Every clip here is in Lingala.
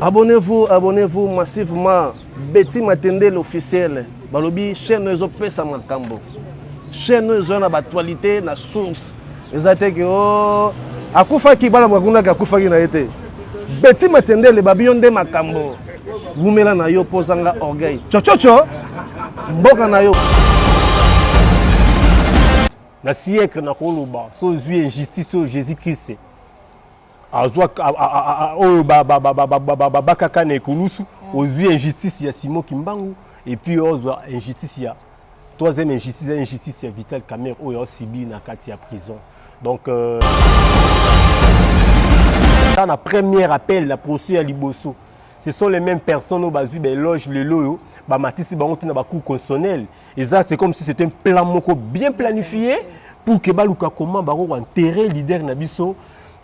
Abonnez-vous, abonnez-vous massivement. Betty Matende l'officiel. Balobi chaîne ezo pesa makambo. Chaîne ezo na actualité na source. eza te ke o oh, akufaki bana bakunaki akufaki na ye te beti matendele babi yo nde makambo wumela na yo mpo ozanga orgueil cococo mboka na yo na siècle nakoloba so ozwi injustice oyo jésus christ azwa oyo babakaka na ekulusu mm. ozwi injustice ya Simon Kimbangu et puis ozwa injustice ya troisième injustice ya injustice ya Vital Kamerhe oyo osibi na kati ya prison donc euh... na première appel na procès ya liboso ce sont les mêmes personnes oyo bazwi baeloge lelo oyo bamatisi bango ntina bacour constitutionnel eza c'est comme si c'est un plan moko bien planifié pour que baluka comment bakoko enterre leader na biso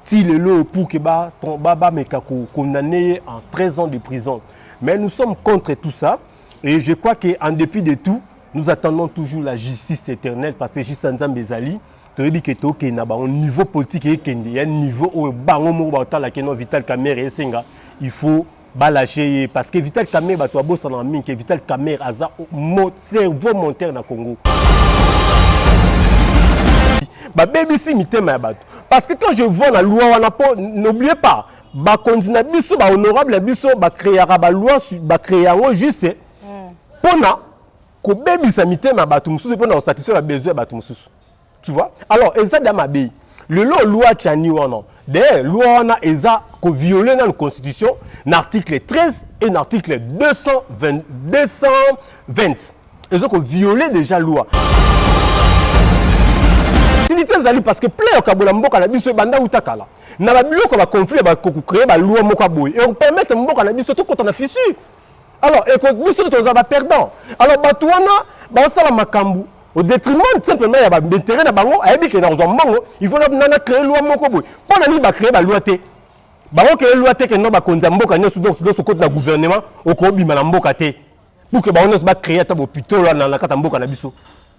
ti lelo pour que bameka condamne ye en 13 ans de prison mais nous sommes contre tout ça et je crois que en dépit de tout nous attendons toujours la justice éternelle parce que justice ya nzambe ezali toyebi ke tokende na bango niveau politique ekende ya niveau oyo bango moko bakotalaka no vital kamere esenga il faut Ba lache ye parce que Vital Kamerhe bato babosana mingi que Vital Kamerhe aza cerveau monteur na Congo. babebisi mitema ya bato parce que quand je vois na loi wana mpo n'oublie pas bakonzi na biso bahonorable na biso bacreaka baloi bacree yango juste mpona kobebisa mitema ya bato mosusu mpona kosatisfaire babesoin ya bato mosusu tu vois alors eza da mabe lelo loi chani wana d'ailleurs loi wana eza ko violer na constitution na article 13 et na article 220 220 eza ko violer déjà loi facilité ezali parce que plein okabola mboka na biso ebanda uta kala na babiloko ya baconflit ya bakocree baloi moko ya boye ekopermettre mboka na biso tokota na fissure alors biso tozala ba perdant alors bato wana basala makambo au détriment simplement ya baintérêt na bango ayebi ke nakozwa mbongo il faut nana créer loi moko boye mpo na nini bacréer baloi te bango créer loi te kendo bakonzi ya mboka nyonso donc nyonso okoti na gouvernement okobima na mboka te pour ke bango nyonso bacréer ata bopitolo na kati ya mboka na biso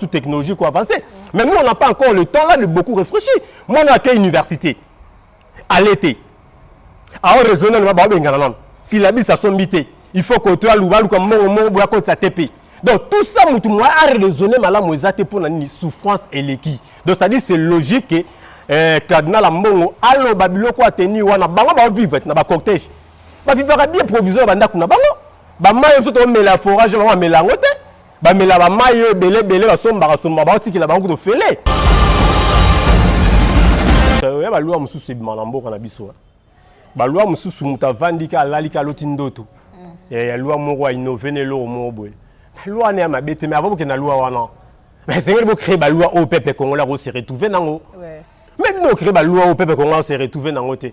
sous technologie ko avancer mais nous on n'a pas encore le temps là de beaucoup réfléchir mwana ake université alete ao raisonne na baobengana nano silabisa asombi te il faut koto aluba aluka mbongo moko boya kotisa te mpe donc tout ça motu moya araisonne malamu eza te mpo na nini souffrance eleki donc c'est à dire c'est logique que eh, cardinal ya mbongo aloba biloko ateni wana bango baovivre na bacortège bavivaka bien provision ya bandako na bango bamai oyo biso tomela forage bango bamela yango te bamela bamai oyo ebele ebele basombaka somba baotikela bango kutu ofele ya balwa mosusu ebima na mboka na biso eh. balwa mosusu moto avandi ka alali ka aloti ndoto mm. eh, ya lwa moko ainove na eloko moko boye lwa wana ya mabe te me ava bokenda lwa wana esengeli bocree balwa oyo pepe congolais akose retrouve nango me bino ocree balwa oyo pepe congolais akose retrouve nango te ouais.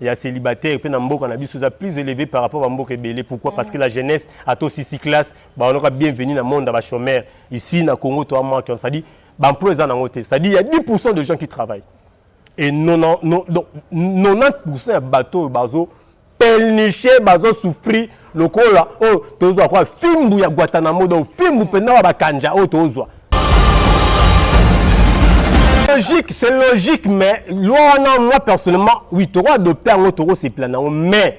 ya célibataire mpe na mboka na biso eza plus élevé par rapport bamboka ebele pourquoi mm. parce que la jeunesse ato sisi classe baonoka bienvenu na monde ya bachômeur ici na congo to amanke on cestadire baemploi eza nango te cestadire ya 10 pourcent de gens qui travaillent et 90 pourcent ya bato oyo bazo pelniche bazo souffrir lokola oyo oh, tozwa kwa fimbu ya guatanamo donc fimbu mpenza wa bakanja oyo oh, tozwa logique c'est logique mais loi wana moi personnellement oui toko adopte yango tokosepela na yango mais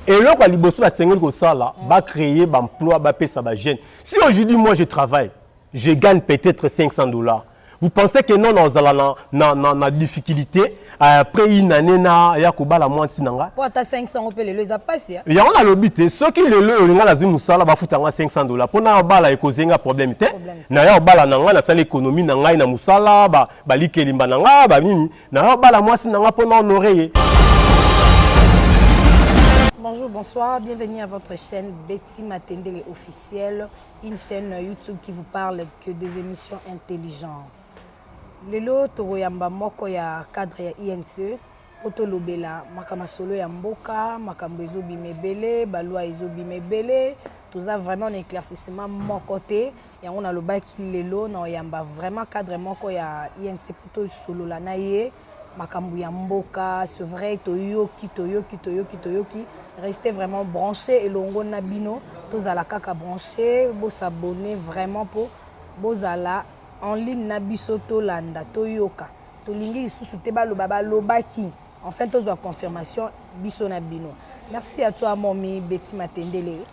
eloko ya liboso basengeli kosala bacreye baemploi bapesa bajeune si aujourd'hui moi je travaille je gagne peut-être 500 dollars Vous pensez que non ozala na, na, na, na difficulté euh, après une année na ya kobala mwasi na nga po ata 500 yango mpe lelo eza pasi ya yango nalobi te soki lelo oyo nga nazwi mosala bafuta nga 500 dola mpo na obala ekoze nga problème te Problème te. na ya obala na nga nasala ekonomi na ngai na mosala ba- balikelimba na nga banini na ya obala mwasi na nga mpo na honore ye Bonjour, bonsoir, bienvenue à votre chaîne Betty Matendele officielle. Une chaine YouTube qui vous parle que des emissions intelligentes. Lelo tokoyamba moko ya cadre ya INSE mpo tolobela makambo masolo ya mboka, makambo ezobima ebele, balwa ezobima ebele, toza vraiment na éclaircissement moko te yango nalobaki lelo na oyamba vraiment cadre moko ya INC mpo tosolola na ye makambo ya mboka c'est vrai toyoki toyoki toyoki toyoki reste vraiment branché elongo na bino tozala kaka branché bosabone vraiment mpo bozala en ligne na biso tolanda toyoka tolingi lisusu te baloba balobaki enfin tozwa confirmation biso na bino merci à toi momi beti matendele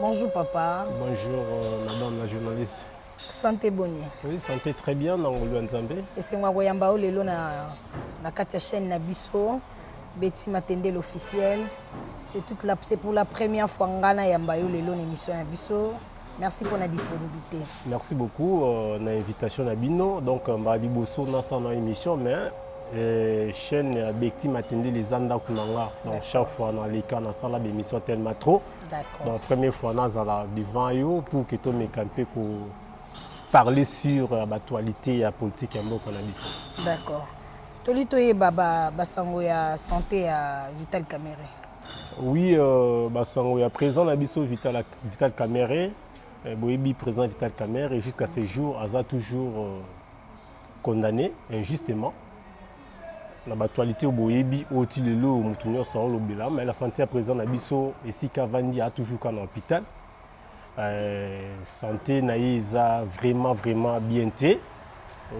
Bonjour papa. Bonjour euh, madame la journaliste. Santé boni? Oui, santé très bien na ngolu ya Nzambe. Esengo koyamba yo lelo na na kati ya chaîne na biso Betty Matendel officiel. C'est toute la c'est pour la première fois ngana yamba yo lelo na émission na biso. Merci pour la disponibilité. Merci beaucoup euh, na invitation na bino. Donc euh, mbala liboso na sa na émission mais euh, chaîne ya Bekti Matende les anda kunanga. Donc chaque fois na leka na sala ba émission tellement trop. D'accord. Donc première fois na zala devant yo pour que to me camper ko parler sur euh, l'actualité ya politique ya mboka na biso. D'accord. Toli toyeba ba basango ya santé ya Vital Kamerhe. Oui, euh, Basango, il y a présent la biso Vital, Vital Kamerhe, eh, Boebi présent Vital Kamerhe, et jusqu'à ce jour, Aza toujours euh, condamné injustement. na batualité boyebi oyo ti lelo motu nyonso aolobela mai la santé ya président na biso esika avandi a toujours ka na hôpital Euh, santé na ye eza vraiment vraiment bien te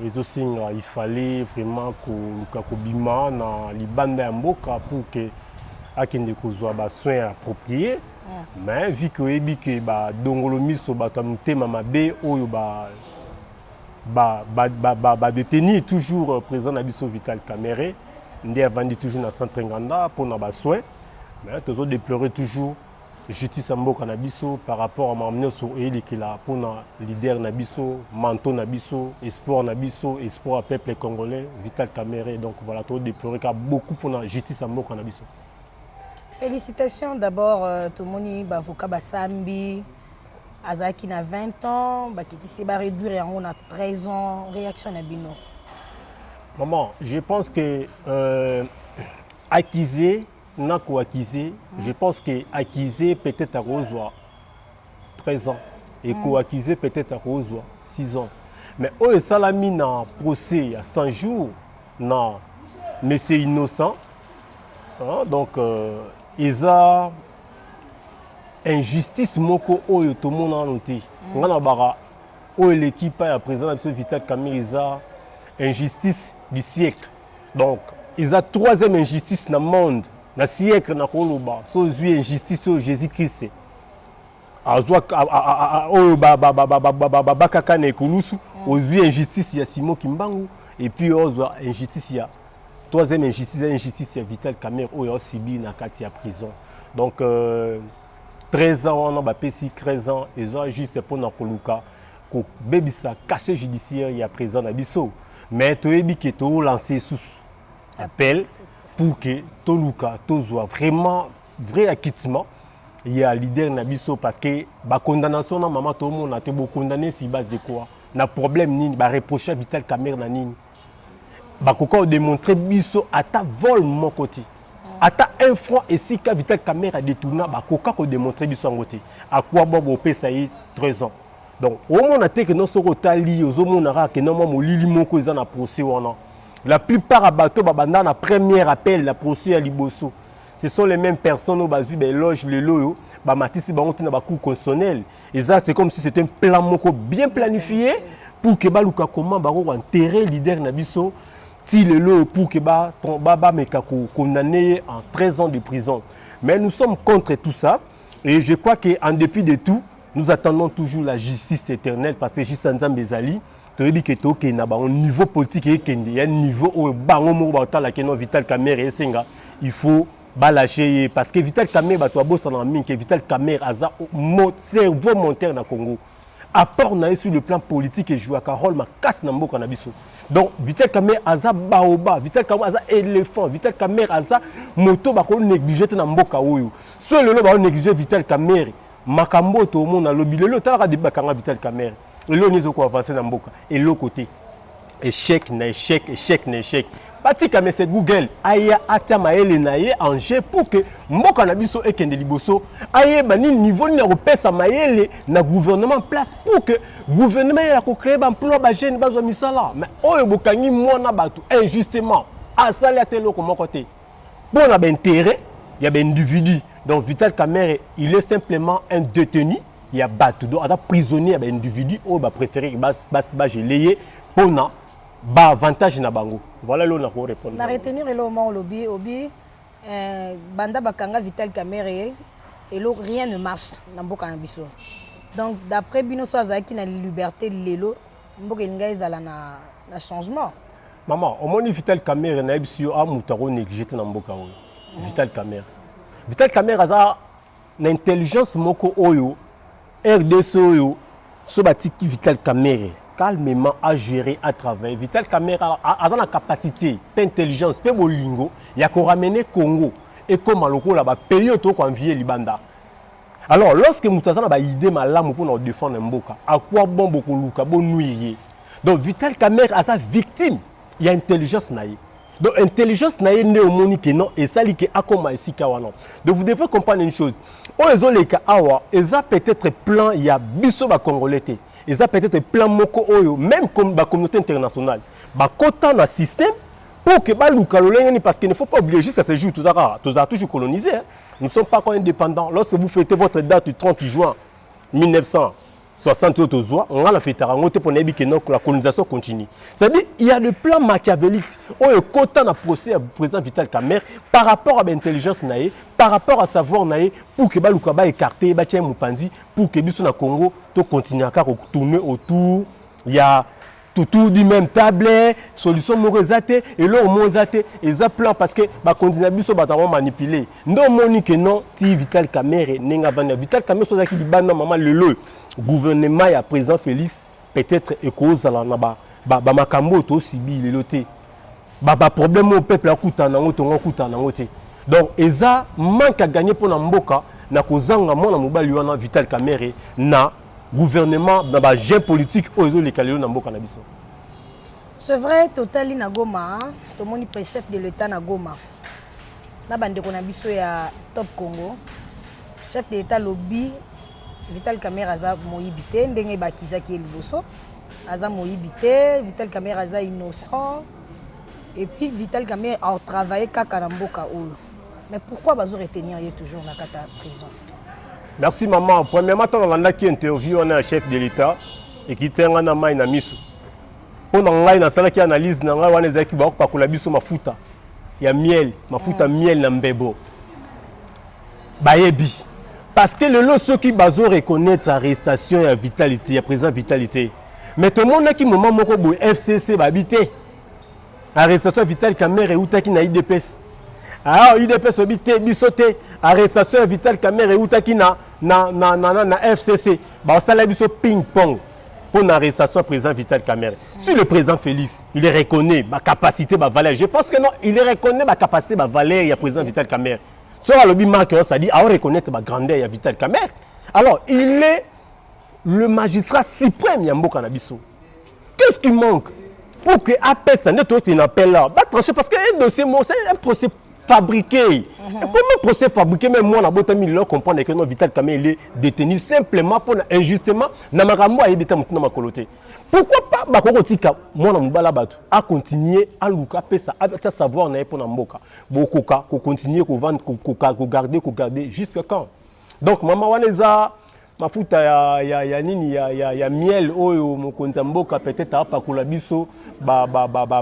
ezosenga il fallait vraiment koluka kobima na libanda ya mboka pour que akende kozwa basoin ya approprié mm. mais vu ke oyebi ke badongolo miso bato ya motema mabe oyo ba badeteni toujours euh, président na biso vital camere nde avandi toujours na centre nganda mpona basoin mais tozo déplorer toujours justice ya mboka na biso par rapport ya makambo nyonso eyelekela mpona leader na biso manto na biso espoir na biso espoir ya peuple congolais vital camere donc voilà todeploreka beaucoup mpona justice ya mboka na biso félicitation d'abord euh, tomoni baavocat basambi azalaki na 20 ans bakitisi baréduire yango na 13 ans réaction na bino maman je pense que euh, accusé na ko accuser je pense que accuser peut-être akozwa 13 ans et mm. ko accuser peut-être akozwa 6 ans mais oyo esalami na procès ya 100 jours na monsieur innocent hein, donc euh, eza injustice moko oyo tomona nano te mm. ngai na baka oyo eleki epai ya président na biso vital camere eza injustice du siècle Donc eza troisième injustice na monde na siècle na koloba so ozwi injustice oyo Jésus Christ azwa oyo babakaka na ekulusu mm. ozwi injustice ya Simon Kimbangu et puis ozwa injustice ya troisième injustice ya injustice ya Vital Kamerhe oyo asibi na kati ya prison donc euh, 13 ans wana bapesi 13 ans eza juste mpona koluka kobebisa cachet judiciaire ya président na biso mm. Mais toyebi que to lancer sous appel pour que toluka tozwa vraiment vrai acquittement ya leader na biso parce que ba condamnation na mama tomona te bo condamner si base de quoi na problème nini ba reprocher vital camere na nini bakoka kodemontre biso ata vol moko te ata un franc esika vital camere adetourna bakoka kodemontre biso yango te akwa bwa bopesa ye 13 ans donc omona te que non soki otali ye ozomona kaka que non mwa molili moko eza na procès wana la plupart ya bato babanda na premier appel na procès ya liboso ce sont les mêmes personnes oyo bazwi baeloge lelo oyo bamatisi bango te na bacour constitutionnel eza c'est comme si c'est un plan moko bien planifie pour que baluka comment bako koenterre leader na biso ti lelo oyo pour que bameka kokondamne ye en 13 ans de prison mais nous sommes contre tout ça et je crois que en dépit de tout Nous attendons toujours la justice éternelle parce que juste Nzambe ezali toyebi ke tokende na bango niveau politique ekende ya niveau oyo bango moko baotalaka no Vital Kamerhe esenga il faut balâcher ye parce que Vital Kamerhe bato babosanaka mingi ke Vital Kamerhe aza cerveau monteur na Congo apport na ye sur le plan politique ejouaka rôle makasi na mboka na biso donc Vital Kamerhe aza baoba Vital Kamerhe aza éléphant Vital Kamerhe aza moto bakonéglige te na mboka oyo so lelo baonéglige Vital Kamerhe Makambo oyo tomona lobi lelo talaka debi bakanga Vital Kamerhe eloko nini ezoko avancer na mboka eloko te échec na échec échec na échec batika mese google aya atia mayele na ye en jeu pour que mboka na biso ekende liboso ayeba nini niveau nini ya kopesa mayele na gouvernement place pour que gouvernement ya kocreye baemploi bajeune bazwa misala mais oyo bokangi mwana bato injustement asali ata eloko moko te Mpo na ba interets ya ba individus. Donc Vital Kamerhe il est simplement un detenu ya batu. Donc aza prisonnier ya ba individus oyo ba preferer que ba ba ba geler ye mpo na ba avantages na bango. Voilà eloko nako repondre. Na retenir eloko moko olobi obi eh, banda bakanga Vital Kamerhe eloko rien ne marche na mboka na biso. Donc d'après bino so azalaki na liberté lelo mboka elinga ezala na, na changement mama omoni vital camere nayebisi yo a moto ako néglige te na mboka oyo mm. vital camere vital camere aza na intelligence moko oyo rdc oyo so batiki vital camere calmement à gérer à travailler vital camere aza na capacité mpe intelligence mpe bolingo ya koramener congo ekóma lokola bapays oyo tokoanvie libanda Alors lorsque moto aza na ba idée malamu pona ko défendre mboka, à quoi bon bokoluka bo nuire ye? Donc Vital Kamerhe aza victime ya intelligence na ye. Donc intelligence na ye nde omoni que non esali que akoma esika wana. Donc vous devez comprendre une chose. Oyo ezoleka awa eza peut-être plan ya biso ba Congolais te. Eza peut-être plan moko oyo même comme ba communauté internationale bakota na système pour que baluka lolenge nini parce qu'il ne faut pas oublier jusqu'à ce jour tozaka tozala toujours colonisé hein? Nous ne sommes pas encore indépendants. Lorsque vous fêtez votre date du 30 juin 1960 oyo tozwa ngai nafetaka yango te mpo nayebi ke la colonisation continue c'est-à-dire il y a le plan machiavélique oyo ekota na procès ya président vital camere par rapport à baintelligence na ye par rapport à savoir na ye pour ke baluka baécarte ye batya ye mopanzi pour ke biso na congo tocontinua kaka kotourne autour ya Tutu dit même table solution moko eza te eloko moko eza te eza plan parce que bakonzi na biso bato yango manipule nde omoni ke non ti vital kamere ndenge avandi na vital kamere so azalaki libanda mama lelo gouvernement ya président félix peut-être ekozala na ba bamakambo ba oyo tosibi lelo te baproblème oyo peuple akutana na yango tongo akutana na yango te donc eza manque à gagner mpo na mboka na kozanga mwana mobali wana vital kamere na gouvernement na ba jeux politique oyo ezoleka lelo na mboka na biso c'est vrai totali na goma tomoni pe chef de l'état na goma na bandeko na biso ya top congo chef de l'état lobi vital camera aza moyibi te ndenge bakizaki ye liboso aza moyibi te vital camera aza innocent et puis vital camera atravaille kaka na mboka oyo mais pourquoi bazo retenir ye toujours na kata prison Merci maman. Premièrement, tant nalandaki interview wana ya chef de l'État ekiti nga na mai na miso. Mpo na ngai nasalaki analyse na ngai wana ezalaki bakopakola biso mafuta ya miel, mafuta mm. miel na mbebo. Bayebi. Parce que lelo soki bazo reconnaître arrestation ya vitalité, ya président vitalité. Mais tomonaki moment moko boye FCC babi te. arrestation ya vital camere eutaki na idps ah, idps oyebi te biso te arrestation ya vital camere eutaki na, na, na, na, na, na fcc basala biso ping pong mpo na arrestation ya président vital camere mm. si le président félix il reconnaît bacapacité bavaleur je pense que non il reconnaît bacapacité bavaleur ya président vital camere soki alobi marke oyo sadi ao reconnaître bagrandeur ya vital camere alors il est le magistrat suprême ya mboka na biso Qu'est-ce qui manque pour que apesa nde toyokende na appel awa batranche parce que un dossier moko c'est un procès fabriqué mm -hmm. comment procès fabriqué même mwana abotami lelo comprendre que non vital kame ele détenu simplement mpona injustement na makambo ayebi ta motu na makolo te pourquoi pas bakoki kotika mwana mobala bato acontinue aluka apesa atya savoir na ye mpona mboka bokoka kocontinue kovande kogarde kogarde jusqu'à quand donc mama wana eza mafuta ya, ya, ya nini ya, ya, ya miel oyo mokonzi ya mboka peut-être apakola biso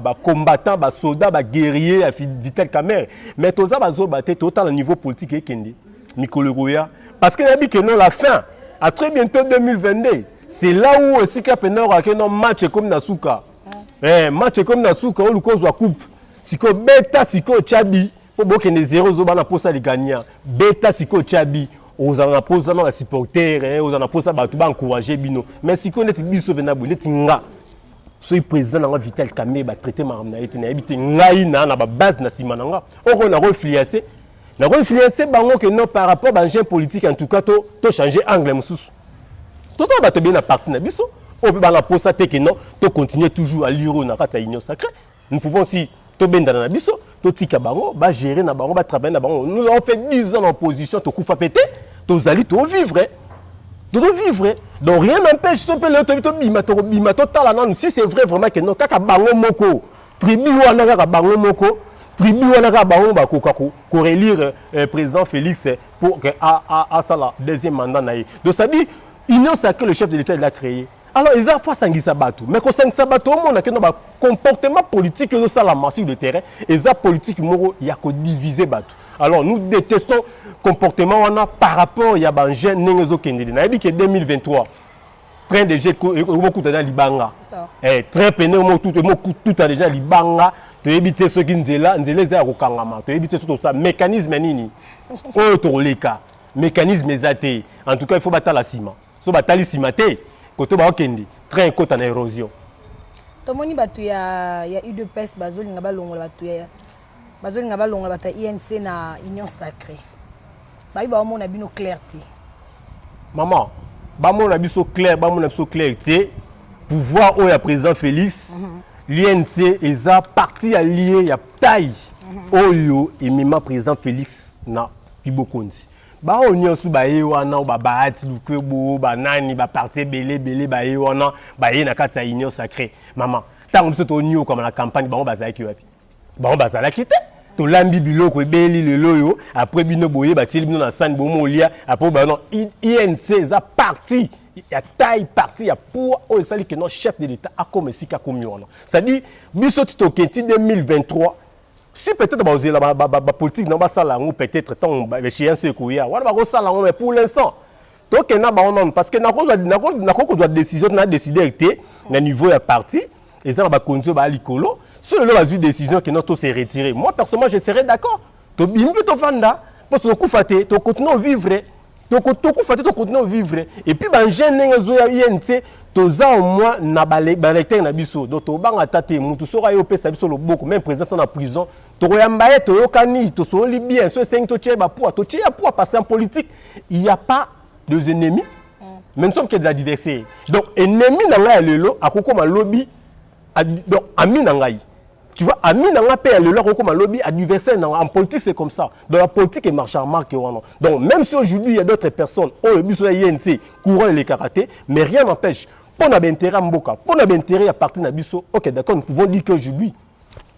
bacombattant basoda baguerrier ya vital camere mais toza bazoba te totala niveau politique ekende mikolo ekoya parce que nayebi ke non la fin à très bientôt 2022 c'est là où esika mpenza okake non match ekomi na suka eh, match ekomi na suka oluka ozwa coupe sikoyo beta sikoyo chabi po bokende zero zoba na posa ligania beta sikoyo chabi ozala na posa na basupporter eh, ozala na posa bato baencourage bino mais sikoyo ndeti biso mpenza boye ndeti nga soki président na nga vital kamere batraite makambo na ye te nayebi te ngai na na babase na nsima na nga oko nakoinfluence nakoinfluence bango ke non par rapport bangene politique en tout cas to, to change angle mosusu tozala bato ebele na parti na biso oyo mpe banga mposa te ke non to continue toujours aliro na kati ya union sacrée nous pouvons aussi tobendana na biso totika bango bagere na bango batravaille na bango nous avons fait 10 ans na opposition tokufa mpe te tozali tovivre tozovivre donc rien n'empêche so mpe lelo toyebi tobima tokobima totala nanu si c'est vrai vraiment ke non kaka bango moko tribu wana kaka bango moko tribu wana kaka bango bakoka korelire eh, président félix eh, pour asala deuxième mandat na ye donc c'est-à-dire union sacrée le chef de l'état il a créé Alors eza faut asangisa bato mais kosangisa bato omona keno ba comportement politique ezosalama sur le terrain eza politique moko ya kodivise bato alors nous détestons comportement wana par rapport ya bajeune ndenge ezokendeli nayebi ke 2023 train de jeu omokuta na libanga eh, train pene omokuta deja libanga toyebi te soki nzela nzela eza ya kokangama toyebi te soki tosa mécanisme nini oyo tokoleka mécanisme eza te en tout cas il faut batala nsima so batali nsima te koto baokende train ekota na érosion tomoni bato ya, ya udps bazolinga balongola bato ya bazolinga balongola bato ya inc na union sacré babi baomona bino claire te mama bamona biso claire bamona biso claire te pouvoir oyo ya président félix mm -hmm. l'unc eza parti ya lie ya taille mm -hmm. oyo emema président félix na kibokonzi baoyo nyonso baye wana oyo babahati lukwebo banani baparti ebele ebele baye wana baye na kati ya union sacré mama ntango biso tonyokwama na campagne bango bazalaki wapi bango bazalaki te tolambi biloko ebeli lelo oyo apres bino boye batieli bino na sani bomo olia apres bano inc eza parti ya taille parti ya poids oyo esali keno chef de l'état akoma esika akomi wana c'est-à-dire biso ti tokenti 2023 si peut-être bakozela bapolitique na basala yango peut-être ntango échéance ekoya wana bakosala yango mais pour l'instant tokende na bango nanu parce que nakoki kozwa décision na décider te na niveau ya parti eza na bakonzi oyo baya likolo so lelo bazwi décision kenda to se retirer moi personnellement je serai d'accord tobimi mpe tofanda mpo tokokufa te tokokontinue ovivre toko tokufa te tokontinue vivre epuis bangene ndenge ezoya inc toza au moins na balecteur na biso donc tobanga ata te motu soko aye opesa biso loboko meme président to na prison tokoyamba ye toyokani tosololi bien so esengi totie bapua totie ya pua parce qu'en politique il y a pas des ennemis mais nous sommes que des adversaires donc ennemi na ngai ya lelo akokoma lobi donc ami na ngai tu vois ami na ngai mpe ya lelo akokoma lobi adversaire na ngai en politique c'est comme ça dans la politique emarche remarque wana donc même si aujourd'hui il y a d'autres personnes oyo biso na inc courant elekaka te mais rien n'empêche mpo na baintérêt ya mboka mpo na baintérêt ya parti na biso ok d'accord nous pouvons dire qu'aujourd'hui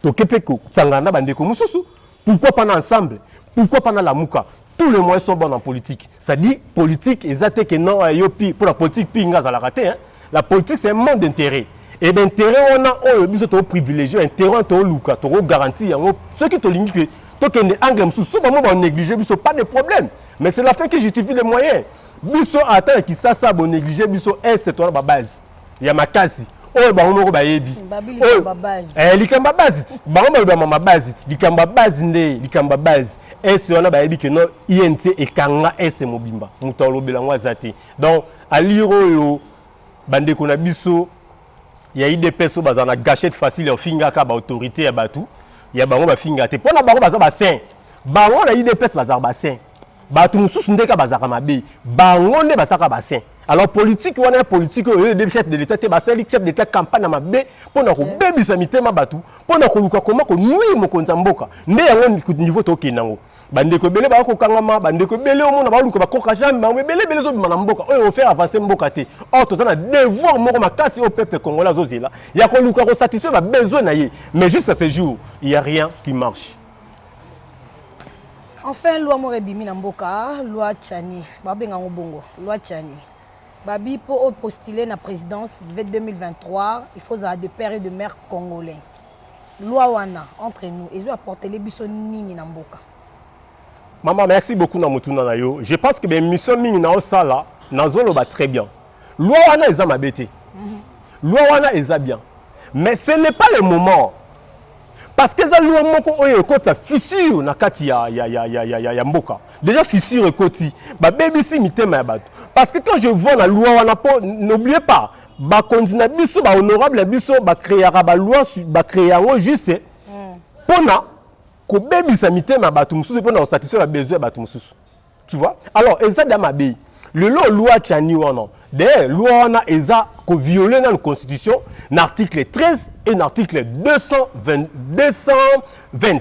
toke mpe kosangana na bandeko mosusu pourquoi pas na ensemble pourquoi pas na lamuka tous les moyens sont bons en politique Ça dit politique eza te que non yo pi pour la politique pi nga zalaka te hein. La politique c'est un monde d'intérêt. Et ben intérêt wana oyo biso to privilégier intérêt to luka to ko garantir yango ceux qui to lingi que to kende angle musu so ba mo ba négliger biso pas de problème. Mais c'est la fin qui justifie les moyens. Biso ata ki sasa bo négliger biso est to ba base. ya makasi oyo bango moko bayebi eh, likambo ya base bango balobama mabase likambo ya base nde likambo ya base este wana bayebi ke no inc ekanga este mobimba moto alobela yango aza te donc alire oyo bandeko na biso ya idps oyo bazala na gachette facile ya ofingaka baautorité ya bato ya bango bafingaka te mpo na bango baza basin bango na idps bazala basin Bato mosusu nde kaka bazalaka mabe, bango nde basalaka ba saint. Alors politique wana ya politique oyo eyebi chef de l'etat te, basali chef de l'etat campagne na mabe mpo na kobebisa mitema bato, mpo na koluka koma ko nuire mokonzi ya mboka. Nde yango niveau tokende yango. Ba ndeko ebele ba kokangama, ba ndeko ebele omona ba luka ba koka jamais bango ebele ebele ezobima na mboka oyo ofaire avancer mboka te. Or toza na devoir moko makasi oyo peuple congolais azozela ya koluka ko satisfaire ba besoins na ye. Mais jusqu'à ce jour, il ya rien qui marche. Enfin loi moko ebimi na mboka loi Chani babenga ngo bongo loi Chani babi po o postuler na presidence 2023 il faut ozala de père et de mère congolais loi wana entre nous ezo apportele biso nini na mboka Maman, merci beaucoup na motuna na yo. Je pense que ben mission mingi na osala na zoloba très bien. Loi wana eza mabe te. Loi wana eza bien. Mais ce n'est pas le moment parce que eza loi moko oyo ekota fissure na kati ya, ya, ya, ya, ya, ya, ya mboka déjà fissure ekoti babebisi mitema ya bato parce que quand je vois na loi wana po n'oublie pas bakonzi na biso bahonorable na biso bacreaka baloi bacree yango juste mpona hmm. kobebisa mitema ya bato mosusu mpona kosatisfaire babesoin ya bato mosusu tu vois alors eza da mabe lelo loi chani wana d'ailleurs loi wana eza ko violer na constitution na article 13 et na article 220 220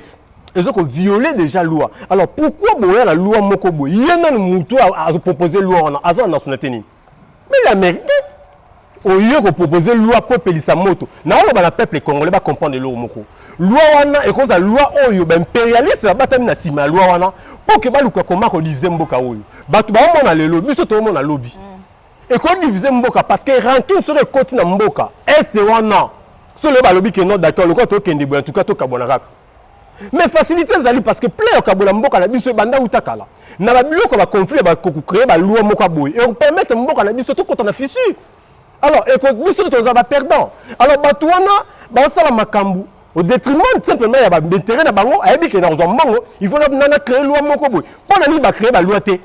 ezo ko violer déjà loi alors pourquoi boya na loi moko boye ye nanu mutu azo proposer loi wana aza na nationalité nini Mais la merde au lieu ko proposer loi po epelisa moto na oloba na peuple congolais ba comprendre eloko moko loi wana ekozala loi oyo ba imperialiste babatami na sima ya loi wana po ke baluka koma ko diviser mboka oyo bato baomona lelo biso toomona lobi mm. eko diviser mboka parce que rancune soki ekoti na mboka est wana solo balobi ke non d'accord lokola tokende boye en tout cas tokabwana kaka mais facilité ezali parce que plan ya kokabola mboka na biso ebanda uta kala na babiloko ya baconflit bakocree baloi moko ya boye ekopermettre mboka na biso tokota na fissure alors biso nde tozala baperdant alors bato wana basala makambo au détriment simplement ya baintérêt na bango ayebi ke nakozwa mbongo il faut nana cree loi moko boye mpo na nini bacree baloi te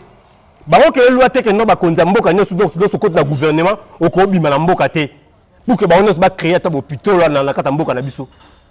bakokele lwa te kendo bakonzi ya mboka nyonso donc nyonso koti na gouvernement okobima na mboka te pour ke bango nyonso bacreye ata bopitolo na kati ya mboka na biso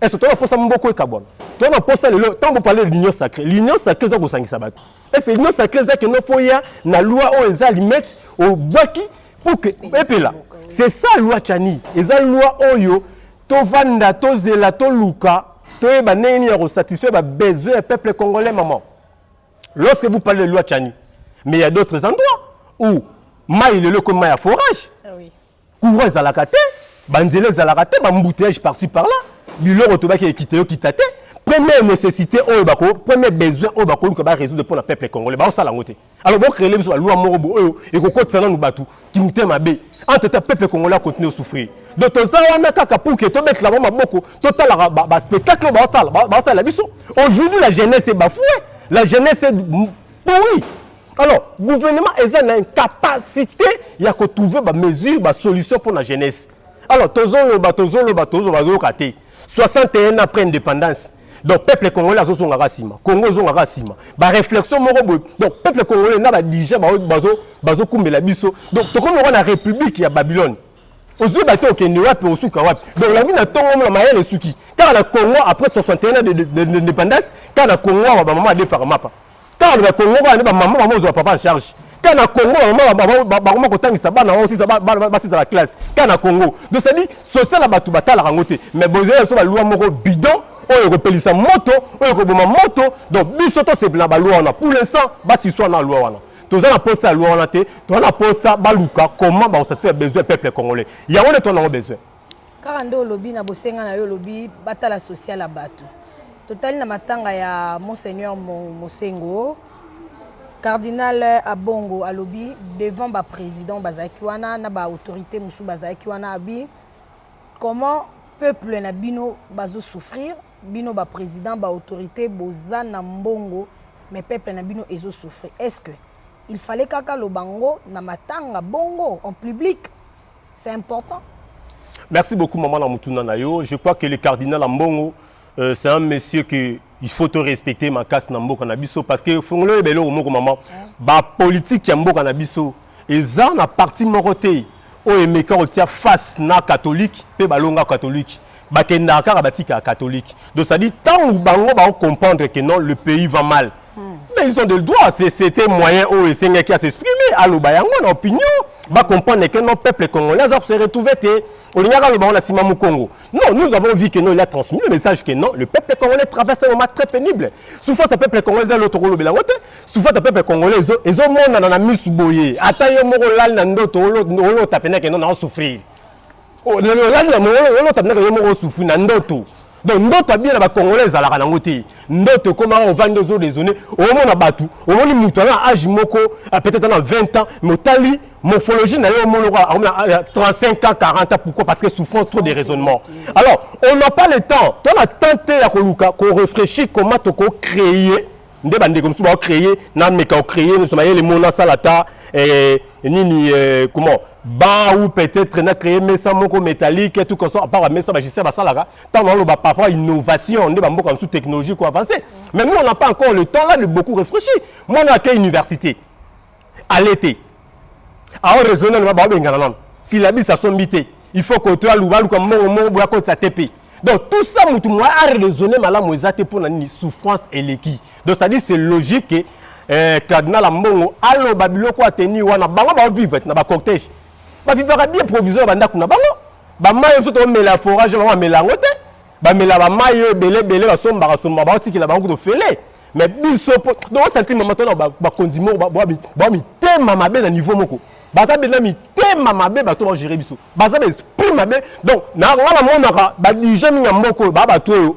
Est-ce que posa mboko ekabwana? Toi na posa lelo tant vous parlez de l'union sacrée. L'union sacrée eza kosangisa bato. Est-ce que l'union sacrée eza kende faut ya na loi oyo eza limite obwaki pour que epela. C'est ça loi Chani. Eza loi oyo tovanda tozela toluka toyeba ndenge nini ya kosatisfaire ba besoin ya peuple congolais maman. Lorsque vous parlez de loi Chani, mais il y a d'autres endroits où mai lelo ekomi mai ya forage. Ah oui. courant ezalaka te banzela ezalaka te bambouteillage parci par là biloko tobaki ekita yo kita te première nécessité oyo bako premier besoin oyo bakoluka barésoudre mpo na peuple congolais baosala yango te alors bocrele biso balwa moko bo oyo ekokotisa nanu bato kimotema mabe entre temps peuple congolais akontinue osouffrir donc toza wana kaka pour ke tobetela bango maboko totalaka baspectacle oyo baosala baosalela biso aujourd'hui la jeunesse ebafoue la jeunesse pourri Alors, gouvernement est une incapacité à trouver des mesures, des solutions pour la jeunesse. Alors, tozolo, tozolo, tozolo, tozolo, 61 ans après l'indépendance, donc peuple congolais a zonga rasima, Congo zonga rasima. Ba réflexion moko boy. Donc peuple congolais na ba dirigeants ba bazo bazo kumbela biso. Donc toko moko na république ya Babylone. Ozui bato okende wapi osuka wapi. Donc la vie na tongo mona mayele suki. Car la Congo après 61 ans d'indépendance, car la Congo ba maman a défara mapa. Kaka na Congo kaka nde ba maman ba mozwa papa en charge. Kaka na Congo ba maman ba ba ba koma kotangisa bana wao sisa ba ba ba sisa la classe. Kaka na Congo. Donc c'est dit social la batu batala kango te. Mais bozo ya so ba loi moko bidon oyo ekopelisa moto oyo ekoboma moto donc biso tosepela na balwa wana pour l'instant basiswa na lwa wana toza na posa ya lwa wana te toza na posa baluka comment bakosatisfaire besoin ya peuple congolais yango nde toza nango besoin Kaka nde olobi na bosenga na yo olobi batala social ya batu. Totali na matanga ya Monseigneur Mosengo, Cardinal Abongo alobi devant ba president bazalaki wana na ba autorite mosusu bazalaki wana abi comment peuple na bino bazo souffrir bino ba president ba autorite boza na mbongo mais peuple na bino ezo souffrir est-ce que il fallait kaka lobango na matanga bongo en public c'est important merci beaucoup maman na mutuna na yo je crois que le cardinal ambongo euh, c'est un monsieur que il faut to respecter makasi na mboka na biso parce que fongolo yeba eloko moko maman ba politique ya mboka na biso eza na parti moko te oyo emeka kotia face na catholique mpe balonga catholique bakendaka kaka batikaka catholique donc ça dit ntango bango bao comprendre que non le pays va mal hmm. mais ils ont de droit c'était moyen oyo esengaki à s'exprimer aloba yango na opinion ba comprendre que non peuple congolais aza se retrouver te olingaka aloba yango na nsima mokongo non nous avons vu que non il a transmis le message que non le peuple congolais traverse un moment très pénible souffrance ya peuple congolais eza eloko kolobela yango te souffrance ya peuple congolais ezomonana na misu boye ata yo moko olali na ndoto olota mpena ke non na osouffrir Oh, na lolani na mongolo yo lota ndaka yo moko sufu na ndoto donc ndoto abia na bakongole ezalaka nango te ndoto ekomaka ovandi ozo raisonne omona bato omoni moto aza na age moko ah, peut-être na 20 ans mais otali morphologie na ye omonoko akomona 35 ans 40 ans pourquoi parce que souffrance trop de raisonnement alors on n'a pas le temps tona temps te ya koluka korefléchir comment tokocréer nde bandeko mosusu bao créer na meka o créer mosusu mayele mo nasala ta eh, nini eh, comment ba ou peut-être na créer mesa moko métallique tout comme ça à part mesa ba gestier basalaka ntango naloba par rapport à innovation nde bamboka mosusu technologie ko avancer mais nous on n'a pas encore le temps là de beaucoup réfléchir mwana ake université ale te ao raisonne nanu baobengana nanu silabisa sombi te il faut koto aluba aluka mbongo moko boya kotisa te mpe donc tout ça motu moya araisonne malamu eza te mpo na nini souffrance eleki donc c'est à dire c'est logique que eh, cardinal ya mbongo aloba biloko ateni wana bango baovivre na bacortège bavivaka bien provision ya bandako na bango bamai oyo so tomela ya forage bango bamela yango te bamela bamai oyo ebele ebele basombaka somba baotikela bango kutu ofele mais biso po donc osanti mama to na bakonzi moko ba mitema mabe na niveau moko baza mpe na mitema mabe bato bagere biso baza ba esprit mabe donc na nga namonaka badirige mingi ya mboka oyo baa bato oyo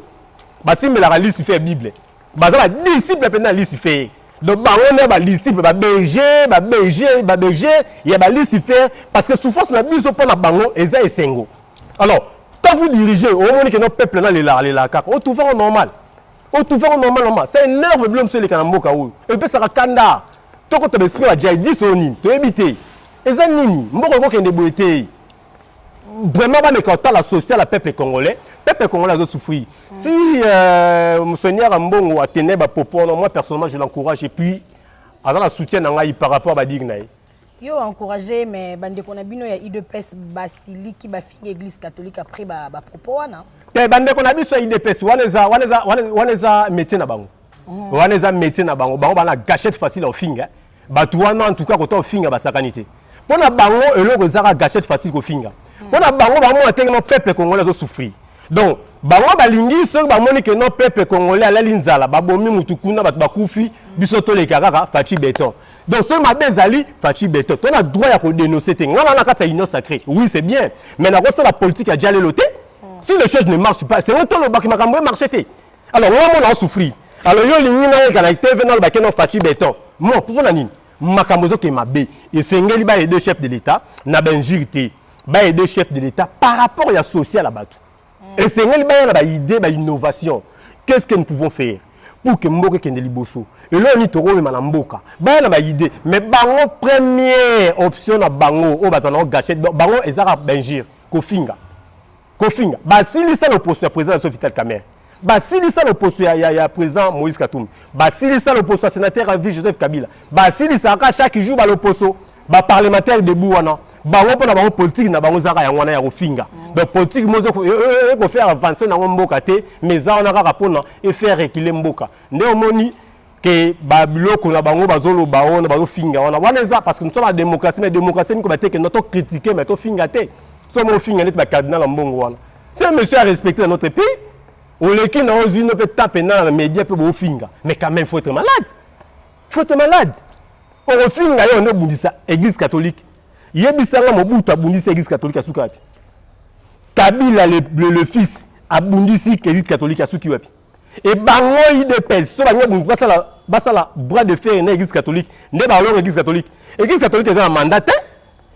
basimbelaka lisi fe ya bible baza badisiple mpenza ya lisi feye donc bango nde badisiple baberger baberger baberger ya balisifer parce que souffrance na biso mpo na bango eza esengo alors quand vous dirigez omoni keno peuple nalelaka lelaka kaka otufango normal otufa ngo normal normal ça énerve bilo mosusu eleka na mboka oyo epesaka kanda tokota baesprit ya jihadis oyo nini toyebi te eza nini mboka ekokende boye te vraiment bameka kotala social ya peuple congolais peuple congolais azo souffrir si euh, monseigneur ambongo atenai bapopo wana moi personnellement je l'encourage et puis aza na soutien na ngai par rapport badigue na ye Yo encourage ye mais bandeko na bino ya udps basiliki bafingi eglise catholique après ba, ba propos wana te bandeko na biso ya udps wana eza wana eza wana eza métier na bango mm. wana eza métier na bango bango bana gachette facile ya ofinga bato wana en tout cas kota ofinga basakani te mpo na bango eloko ezaka gachette facile kofinga mm. mpo na bango bamona ndenge no peuple congolais azosouffrir donc bango balingi soki bamoni ke no peuple congolais alali nzala babomi mutu kuna bato bakufi biso toleka kaka faci beton donc soki mabe ezali faci beton to na droit ya kodenonce te ngai na kati ya union sacré oui c'est bien mais nakosala politique ya jalelo te hmm. si les choses ne marche pas sengo tolobaki makambo emarche te alors ngai mona osouffrir alors yo olingi ngai ezala tv nalobaki no faci beton mo mpo na nini makambo ezokende mabe esengeli baye deux chefs de l'état na bainjure te baye deux chefs de l'état par rapport ya social ya bato mm. esengeli baya na ba idée ba innovation qu'est ce que nous pouvons faire pour que mboka ekende liboso eloko nini tokomema na mboka baya na baide mais bango première option na bango oyo bato banango gachete bango ezaka bingire kofinga kofinga basilisa loposo ya président na biso vital camere basilisa loposo ya, ya, ya président moïse katumbi basilisa loposo ya sénateur ya ville joseph kabila basilisaka chaque jour baloposo ba parlementaire debout wana bango mpo na bango politiki na bango ezalaka yango wana ya kofinga mm. donc politiki mo ekofaire e, e, e, avance nango mboka te mais eza wana kaka mpona efaire rekile mboka nde omoni ke babiloko na bango bazoloba wana bazofinga wana wana eza parce que nous sommes na démocratie mais démocratie miko bateke no tocritique mais tofinga te so mo ofinga neti bacardinal ya mbongo wana ce monsieur a respecté na notre pays oleki na ozwi no mpe tape na na média mpe bofinga mais quand même faut être malade Faut te malade. Okofinga yo nde obundisa Eglise catholique. Yebisa nga Mobutu abundisi Eglise catholique asuki wapi? Kabila le, le, le fils abundisi Eglise catholique asuki wapi? Et bango IDPS so bango bundu basala basala bras de fer na Eglise catholique nde balonga Eglise catholique. Eglise catholique eza na mandat te.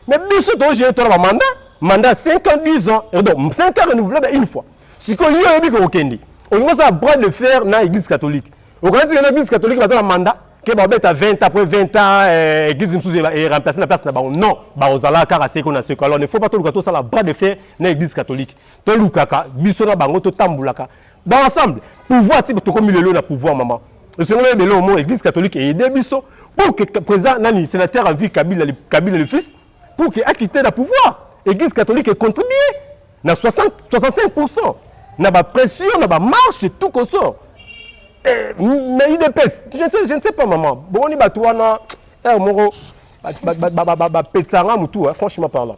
Mais biso to gérer tona ba mandat, mandat 5 ans, 10 ans, et donc 5 ans renouvelable une fois. Siko yo yebi ko okende. Olingo ça bras de fer na église catholique. Okanisi que na église catholique baza na mandat que ba beta 20 après 20 ans euh, église mususu est remplacée na place na bango. Non, ba ozala kaka seko na seko. Alors ne faut pas to luka to sala bras de fer na église catholique. To lukaka biso na bango to tambulaka ba ensemble pouvoir ti tokomi lelo na pouvoir maman esengeli oyeba eloko moko église catholique eaide biso pour que président nani sénateur en vie kabila le, kabila le fils pour que akite na pouvoir église catholique econtribue na 60 65 pourcent na bapression na bamarche tout koso eh, mais idps je, je, je ne sais pas maman bomoni bato wana heure moko bapetisa nga motu franchement parlant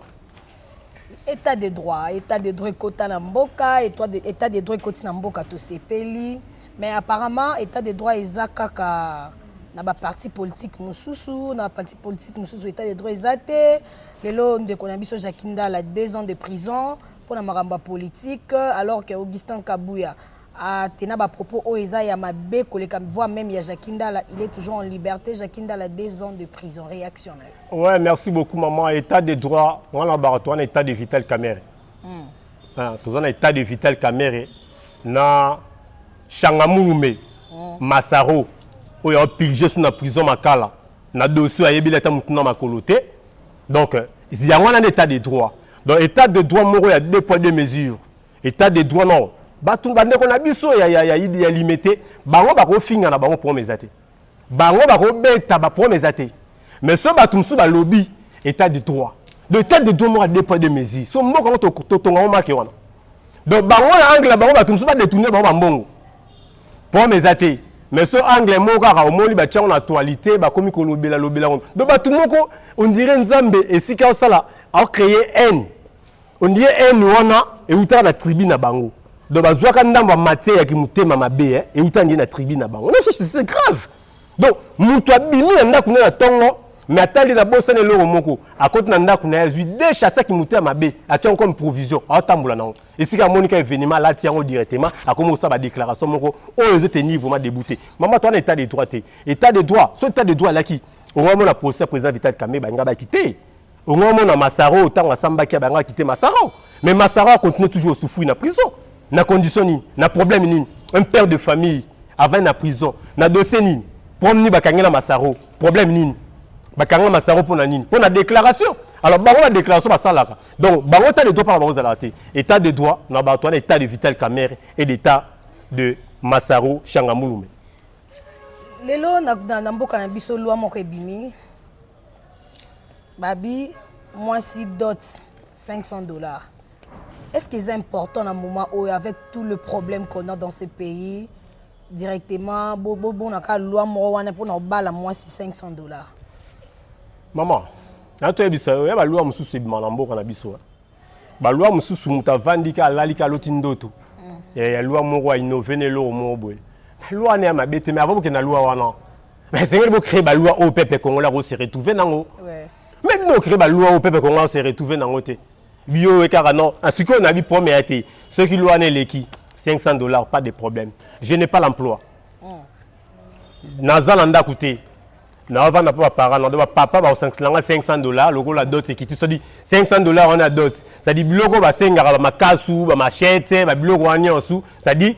Etat de droit, etat de droit ekota na mboka, etat de droit ekoti na mboka tosepeli, mais apparemment etat de droit eza kaka na ba parti politique mosusu na parti politique mosusu etat de droit eza te lelo ndeko na biso jacki ndala deux ans de prison mpo na makambo ya politique alors que augustin kabuya Ah, t'es na ba propos oyo eza ya mabe koleka voix même ya Jackie Ndala, il est toujours en liberté. Jackie Ndala deux ans de prison. Réaction na yo. Ouais, merci beaucoup maman. État de droit, on a barato, on état de vital camere. Hmm. Ah, tous on état de vital camere na Changamurume, hmm. Masaro, oyo a pigé sur la prison Makala. Na dossier ayebi leta mutu na makolo te. Donc, yango na état de droit. Donc état de droit moko ya deux poids deux mesures. Etat de droit non batu bandeko na biso ya, ya, ya, ya limete bango bakofinga na bango problème eza te bango bakobeta ba problème eza te mais so bato mosusu balobi etat de droit donc etat de droit moko ya deux poids deux mesure so mboka yango totonga yango make wana donc bango na angle na bango bato mosusu badetourne bango bambongo problème eza te mais so angle moko kaka omoni batyango na actualité bakomi kolobela lobela ngo donc bato moko ondire nzambe esika osala aocreye haine On dirait haine wana ewutaka na tribu na bango. Donc bazwaka ndambo ya matière ya kimotema mabe eh, ewuta ndiye na tribu na bango. Non, c'est c'est grave. Donc mutu abimi na ndako na ye na tongo mais atali na bosana eloko moko akoti na ndako na ye azwi de chasse kimotema mabe atya yango comme provision aotambola na yango esika amoni ka événement alati yango directement akomi kosala badéclaration moko oyo ezo tenir vraiment debout te mama to wana état de droit te état de droit so état de droit alaki okomona procès ya président vital kambe balinga baki te Ongo mona Masaro tango asambaki abanga kite Masaro. Mais Masaro a continuer toujours au souffrir na prison. Na condition nini? Na problème nini? Un père de famille avant na prison. Na dossier nini? Problème nini bakangela Masaro? Problème nini? Bakangela Masaro pona nini? Pona déclaration. Alors bango la déclaration basalaka. Donc bango ta de droit par bango zalate. État de droit na bato wana état de Vital Kamerhe et d'état de Masaro Changamulume. lelo na, na, na mboka na biso lwa moko ebimi Babi mwasi dot 500 dollars. Est-ce que eza important na moment oyo avec tout le problème qu'on a dans ce pays directement bo bo bona ka loi moko wana pona obala mwasi 500 dollars. Maman, na to yebisa yo ya ba loi mususu ebima na mboka na biso. eh. Ba loi mususu mutu avandi ka alali ka loti ndoto. Ya ya loi moko a innove na eloko moko boye. Loi na ya mabe te mais avant bokenda loi wana. mais esengeli bo créer ba loi oyo peuple congolais ako se retrouver nango mais bino créer ba loi oyo peuple congolais ako se retrouver nango te bio oyo kaka non ah, sikoyo nayebi problème ya te soki loi wana eleki 500 dollars pas de problème je n'ai pas l'emploi hmm. naza na ndako te naovanda mpe baparent nado bapapa bakosangisa nga 500 dollar lokola dot ekiti sodi 500 dollar wana ya dot sadi biloko basengaka bamakasu bamachete babiloko wana nyonso sadi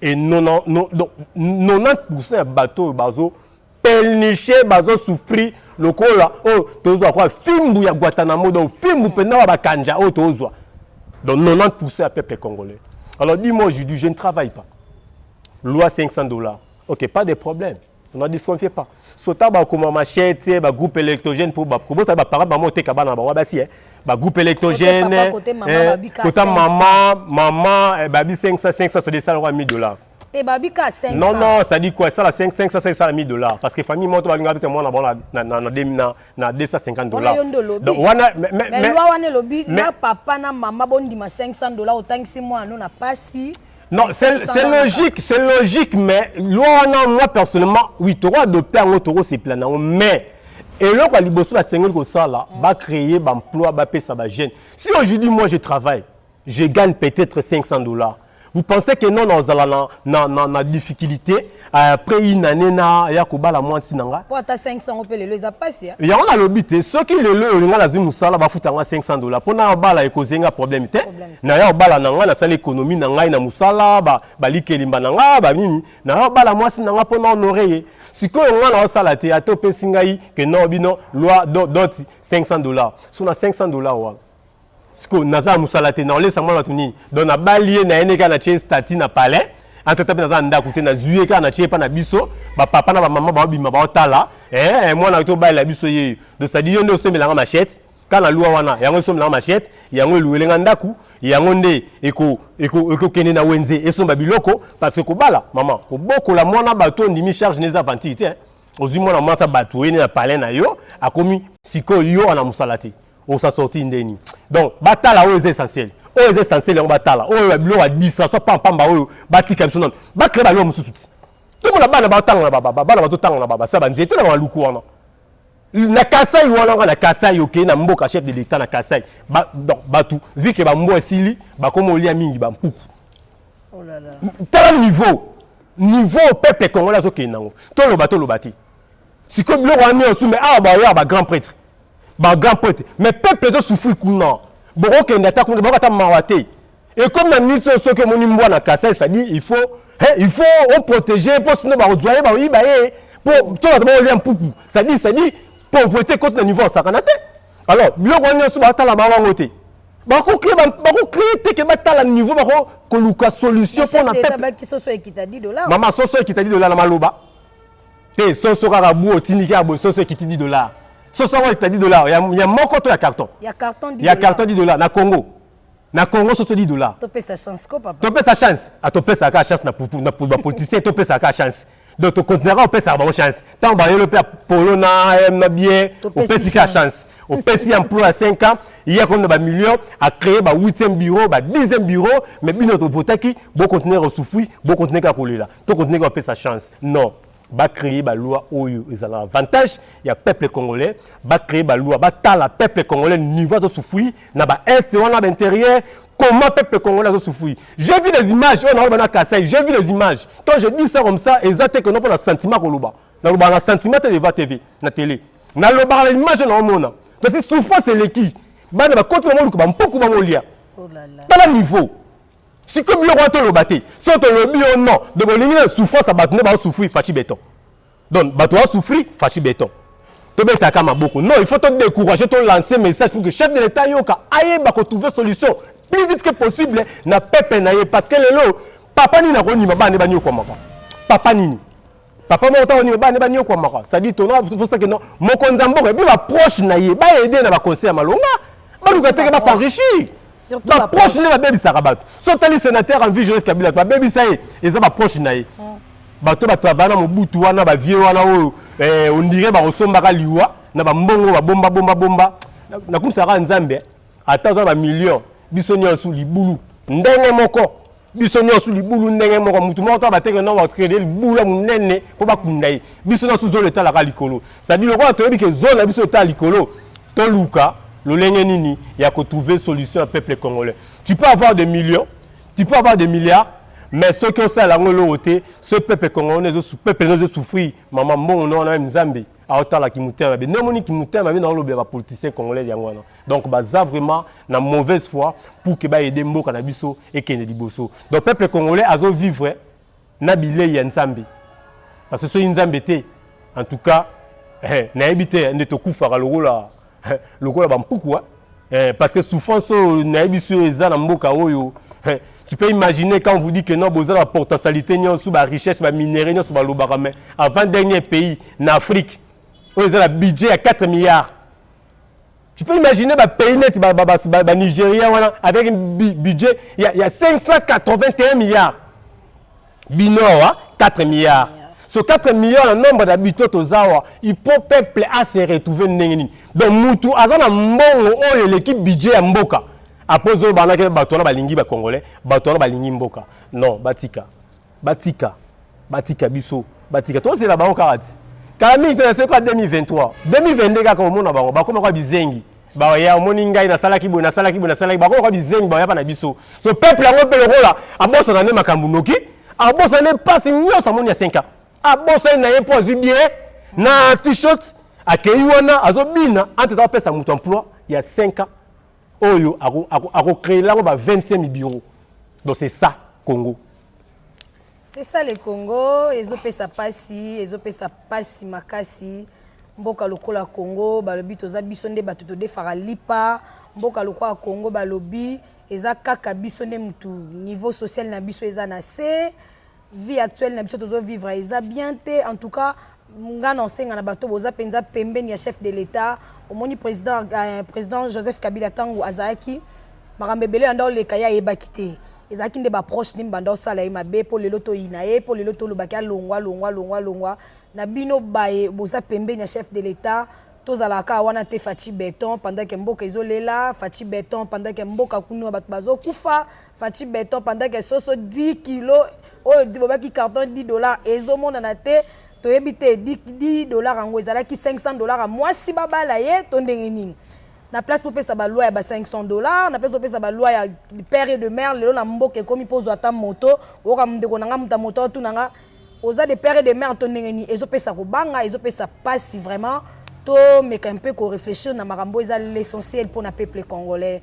Et 90% ya bato oyo bazo pelnicher, bazo souffrir lokola oyo tozwa lokola fimbu ya Guatanamo, donc fimbu penza oyo ya ba kanja oyo tozwa, donc 90% ya peuple congolais. Alors dis-moi aujourd'hui je ne travaille pas, loi 500 dollars, ok pas de problème, na disconfie pas sota bakoma machete bagroupe électogène mpo kobosala baparent bango oteka bana na bango basi e eh. bagroupe électogène eh, kota mama mama eh, babi 500 500 sodi esala kwa 1000 dollars te babika 500 non non sadi quoi esala 5 500 sadi esala 1000 dollars parce que famille moto babinga bita mwana bango na na na na na 250 dollars donc wana mais loi wana elobi na papa na mama bondima 500 dollars otangisi mwana na pasi Non, c'est logique, c'est logique, mais loi wana moi personnellement, oui, toko adopter yango toko se plaindre yango, mais eloko ya liboso basengeli kosala mm. ba créer ba emploi ba pesa ba jeune. Si aujourd'hui moi je travaille, je gagne peut-être 500 dollars. Vous pensez que non, non, na na na difficulté Ah, après une année na ya kobala mwasi na nga po ata 500 yango mpe lelo eza mpasi ya yango nalobi te soki lelo oyo nga nazwi mosala bafuta nga 500 dollars mpo na obala ekoze nga problème te Problème te. na ya obala na nga nasala ekonomi na ngai na mosala ba- balikelimba na nga banini na ya obala mwasi na nga mpo na honore ye sikoyo nga naosala te ata opesi ngai ke no bino loi do- doti 500 dollars so na 500 dollars wana siko naza na mosala te naolesa mwana bato nini donc nabali ye na ye neka na tie stati na palais antata mpe naza na ndako te nazwi ye kaka na tie epa na biso bapapa na bamama baobima baotala ee eh, mwana tobalela biso yeyo donc sadi yo nde osomelanga machete kaka na lwa wana yango esomelanga machete yango eluwele nga ndako yango nde ekokende na wenze esomba biloko parce que kobala mama kobokola mwana bato ondimi charge neza aventure te ozwi mwana mwasi ya bato oyene na palais na yo akomi sikoyo yo wana mosala te osa sorti ndeni donc batala oyo eza essentiel oyo eza essentiel yango batala oyo ya biloko ya distraction pampamba oyo batika biso nano bacree baloko mosusu ti tomona bana batanga na baba bana bazotanga na baba sa banzete na baluku wana na kasai wana nga na kasai okei na mboka chef de l'etat na kasai bato vu ke bambo esili bakoma olia mingi bampuku oh tala niveau niveau peuple congolais azokende nango toloba toloba te sikoyo biloko wana nyonso me awa baoya bagrand prêtre ba grand prêtre mais peuple ezo souffrir kuna bokokende ata kuna boko ata mawa te ekomi na minute oyo soki omoni mbwa na kasai cetadire il faut he il faut oprotege mpo sino bakozwa ye bakoyiba ye mpo to bato bakolya mpuku cetadire cetadire pauvreté ekoti na niveau ya sakana te alors biloko wana nyonso batala bango yango te bakocree bakocree te ke batala niveau bako koluka solution mpo na peuple mama soso ekita di dola na maloba te soso kaka bu otindi kaka boye soso ekiti 10 dollars soso yango ekita 10 dollars ya, ya moko to ya carton ya carton 10 ya carton 10 dollars na congo na congo soso 10 dollars topesa chance ko papa topesa chance ah, topesaka kaka chance na putu na putu bapoliticien topesaka kaka chance donc tokontinaka kopesaka bango chance ntango bayelo mpe polo na eh, na bie opesi kaka chance opesi ya emploi ya 5 ans ye akomi na bamillion acreye ba 8e bureau ba 10e bureau mais bino tovotaki bokontinue kosufui bokontinue kaka kolela To continuer ko pesa chance. Non. Ba créer ba loi oyo ezala avantage ya peuple congolais, ba créer ba loi ba tala peuple congolais niveau azo souffrir na ba est wana ba intérieur comment peuple congolais azo souffrir. J'ai vu les images oyo na na Kasaï, j'ai vu les images. Quand je dis ça comme ça, eza te que non pona sentiment ko loba. Na loba na sentiment te devant TV, na télé. Na loba na image na omona. Parce que souffrance eleki. Bana ba koti ba moluka ba mpuku ba molia. Oh là là. Tala niveau. sikoyo biloko wana toloba te so tolobi yo non donc olingi na souffrance ya bato nde baosouffrir faci beton donc bato baosouffrir faci beton tobetaka maboko non il faut todécourage tolance message pour que chef de l'état ayoka ayeba kotrouve solution plus vite que possible na peuple na ye parce que lelo papa nini akondima bana nde banyokwamaka papa nini papa moko ntango nini bana nde banyokwamaka cestadi tona tosaki no mokonzi ya mboka epe baproche na ye baede na baconseil ya malonga baluka teke basenrichir baproche nde babebisaka bato so otali sénateur en vie joseph kabila babebisa ye eza baproche na ye hmm. bato batravaya na mobutu wana bavie wana oyo eh, ondire bakosombaka liwa na bambongo babomba bomba bomba nakumisaka nzambe ata oza na bamillion biso nyonso libulu ndenge moko biso nyonso libulu ndenge moko motu moko to bateke nao bacrede libula monene mpo bakunda ye biso nyonso zolo etalaka likolo sadi lokola toyebi ke zolo na biso etala likolo toluka lolenge nini ya kotrouve solution ya peuple congolais tu peux avoir des millions tu peux avoir des milliards mais soki osala yango eloko te ce peuple congolais peuple no ezosouffrir mama mbongo no wana meme nzambe aotala kimutema mabe nde omoni kimutema mabe naolobela bapoliticien congolais yango wana donc baza vraiment na mauvaise foi pour ke baede mboka na biso ekende liboso donc peuple congolais azovivre na bilei ya nzambe parce que soki nzambe te en tout cas eh, nayebi te nde tokufaka lokola lokola ba mpukua eh, parce que souffrance oyo nayebi biso eza na mboka oyo eh, tu peux imaginer quand vous dit que non boza na potentialité nyonso ba richesse ba minerais nyonso balobaka mais avant dernier pays na afrique oyo eza na budget ya 4 milliards tu peux imaginer ba pays neti ba, ba, ba, ba, ba nigeria wana avec un budget ya, ya 581 milliards bino awa 4 milliards so 4 milliards na nombre na bito toza awa il faut peuple a se retrouver ndenge nini donc mutu aza na mbongo oyo eleki budget ya mboka apres oyo banaki bato wana balingi ba congolais bato wana balingi mboka non batika batika batika biso batika tozela bango kaka ti kala mingi te na soki kaka 2023 2022 kaka omona bango bakoma kwa bizengi baoya omoni ngai nasalaki boye nasalaki boye nasalaki bango lokola bizengi baoya mpa na biso so peuple yango mpe lokola abosana nde makambo noki abosana nde mpasi nyonso amoni ya 5 ans abosani na ye mpo azwi bie na t-shirt akei wana azobina anteta apesa moto emploi ya 5 ans oyo akocree lango ba 20e bureau donc c'est ça congo C'est ça le Congo, ezopesa pasi, ezopesa pasi makasi. Mboka lokola Congo, balobi toza biso nde bato todefaka lipa. Mboka lokola Congo balobi eza kaka biso nde mutu niveau social na biso eza na se. Vie actuelle na biso tozo vivre eza bien te. En tout cas, nga na osenga na bato boza mpenza pembeni ya chef de l'etat omoni président, euh, président joseph kabila ntango azalaki makambo ebele yanda oleka ye ayebaki te ezalaki nde baproche nde mbanda osala ye mabe mpo lelo toyina ye mpo lelo tolobaki alongwa alongwa alongwa alongwa na bino baye boza pembeni ya chef de l'etat tozalaka kaka wana te faci beton pendant ke mboka ezolela faci beton pendant ke mboka kuna bato bazokufa Fatshi beton pendant que soso 10 kilos oyo bobaki carton 10 dollars ezomonana te toyebi te 10 dollars yango ezalaki 500 dollars mwasi babala ye to ndenge nini na place popesa baloi ya ba 500 dollars na place opesa baloi ya père et de mère lelo na mboka ekomi mpo ozwa ata moto oyoka ndeko na nga moto ya moto otuna nga oza de père et de mère to ndenge nini ezopesa kobanga ezopesa mpasi vraiment tomeka mpe koreflechir na makambo eza l'essentiel mpo na peuple congolais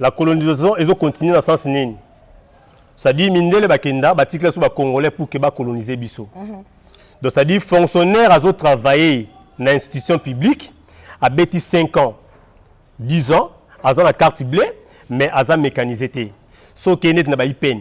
La colonisation ezo continuer na sens nini? C'est-à-dire mindele bakenda batikela biso ba congolais pour que ba coloniser biso. Mm -hmm. Donc c'est-à-dire fonctionnaire azo travailler na institution publique abeti 5 ans 10 ans aza na carte bleue mais aza mécanisé te. So ke net na ba IPN,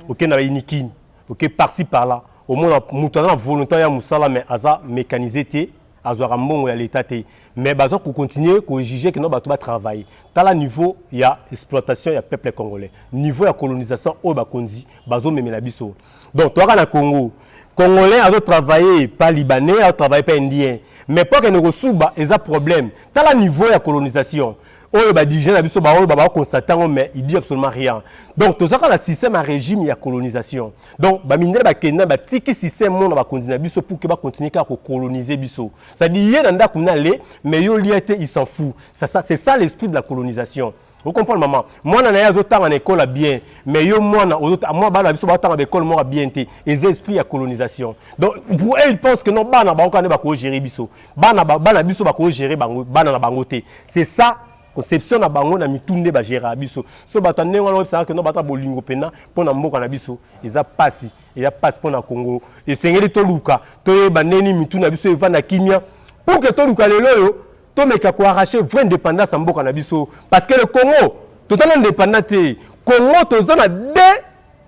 oke na ba inikin, oke par-ci par-là. Au moins mutu aza na volonté ya musala mais aza mécanisé te. azwaka mbongo ya l'etat te mais baza ko continuer ko juger que non bato ba travailler tala niveau ya exploitation ya peuple congolais niveau ya colonisation oyo bakonzi bazo memela biso donc toyaka na Congo congolais azo travailler pa libanais azo travailler pa indien mais po akende kosuba eza problème tala niveau ya colonisation oyo ba dirigeants na biso ba oyo ba constate yango mais il dit absolument rien donc toza kaka na système ya régime ya colonisation donc ba mindele ba kenda ba tiki système mona ba konzi na biso pour que ba continuer kaka ko coloniser biso ça dit ye na ndaku na le mais yo lia te il s'en fout ça ça c'est ça l'esprit de la colonisation vous comprenez maman mwana na ye azotanga na ekole ya bien mais yo mwana mwa bana biso batanga baekole moko ya bien te eza esprit ya colonisation donc pour eux ils pensent que non bana baoka nde bakogere biso Bana ba, bana biso bako gérer bango bana na bango te. C'est ça conception na bango na mitu nde ba gérer biso. So bato ndenge wana oyebisa que non bata bolingo pena mpo na mboka na biso eza pasi eza pasi mpo na Congo. Esengeli toluka toyeba ndeni mitu na biso evanda kimia pour que toluka lelo oyo tomeka ko arracher vraie indépendance ya mboka na biso parce que le Congo toza na indépendant te. Congo toza na deux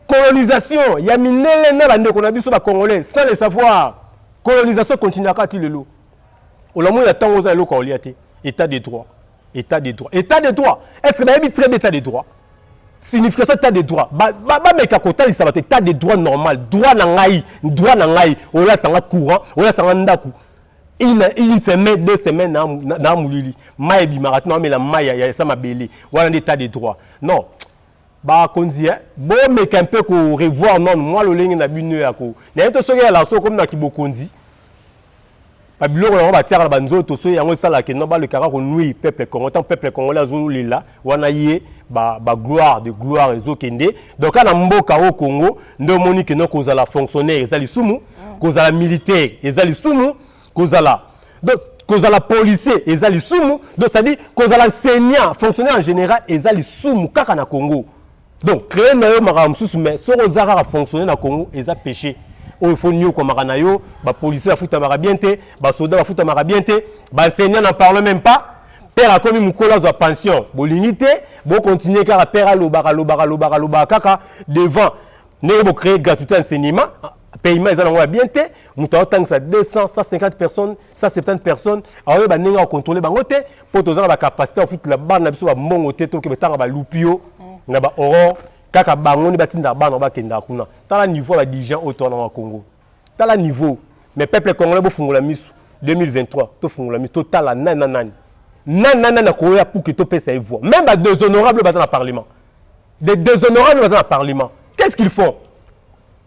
Colonisation ya mindele na bandeko na biso ba congolais sans le savoir. Colonisation continuaka ti lelo. Olamoni ya tango oza eloko olia te. Etat de droit. Etat de droit. Etat de droit. Est-ce que bayebi très bien etat de droit? signification état de droit bameka kotalisa bato état de droit normal droit na ngai droit na ngai olasa nga courant olasa nga ndako une semaine deux semaines na molili mai ebimaka tina omela mai ya esa mabele wana nde état de droit non ba konzi eh bo meka un peu ko revoir non moi lolenge na bino ya ko na yeto soki ya laso comme na kibokonzi ba biloko yango ba tiaka na ba nzoto soki yango esala que non ba le kaka ko nuire peuple congolais tant peuple congolais azo lela wana ye ba ba gloire de gloire ezo kende donc na mboka au Congo nde omoni que non kozala fonctionnaire ezali sumu kozala militaire ezali sumu kozala donc kozala policier eza lisumu donc c'est-à-dire kozala enseignant fonctionnaire en général eza lisumu kaka na congo donc créer na yo makambo mosusu mais soki oza kaka fonctionnaire na congo eza péché oyo oh, fo niokwamaka na yo bapolicier bafutamaka bien te basoda bafutamaka bien te baenseignant na parle même pas père akomi mokolo azwa pension bolingi te bokontinue kaka père alobaka lobaka lobaka lobaka kaka devant ndenge bocree gratuité enseignement paiement eza nango ya bien te moto aotangisa 200 150 personnes 170 personnes aoyeba ndenge akocontrole bango te mpo toza na bacapacité ya kofutela bana na biso bambongo te toke batanga balupio mm. na baorore kaka bango nde batindaka bana bakendaka kuna tala niveau ya badirigent oyo towana wa congo tala niveau mais peuple congolais bofungola misu 2023 tofungola misu totala nani na nani nani na nani akoya puke topesa ye voix même badéshonorable baza na parlement des déshonorable baza na parlement qu'est ce qu'ils font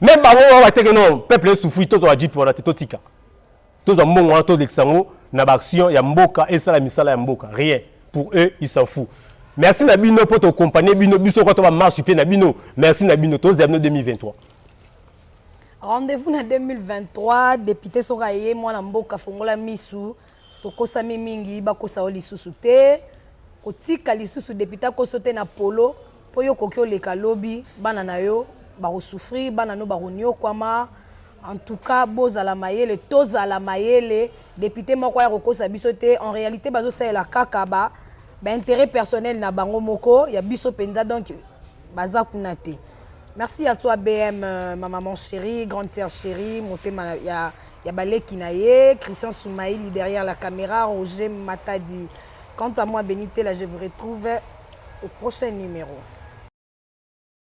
me bango wana bateke no peuple esufui tozwa bajipe wana te totika tozwa mbongo wana tolekisa yango na baaction ya mboka esala misala ya mboka rien pour eux ils s'en fou merci na bino mpo tokompanie bino biso kwa to bamarche mpe na bino merci na bino tozela bino 2023 rendez-vous na 2023 depute soki aye mwana mboka fongola misu Tokosami mingi bakosa yo lisusu te kotika lisusu depute akoso te na polo po yo okoki oleka lobi bana na yo bako souffrir bana no bako niokuama en tout cas bozala mayele tozala mayele depute moko aya kokosa biso te en realite bazo salela kaka ba ba interet personnel na bango moko ya biso penza donc baza kuna te merci à toi BM ma maman cherie grande sœur cherie motema ya ya ba leki na ye Christian Soumaili derrière la camera Roger Matadi quant à moi Benitela je vous retrouve au prochain numero.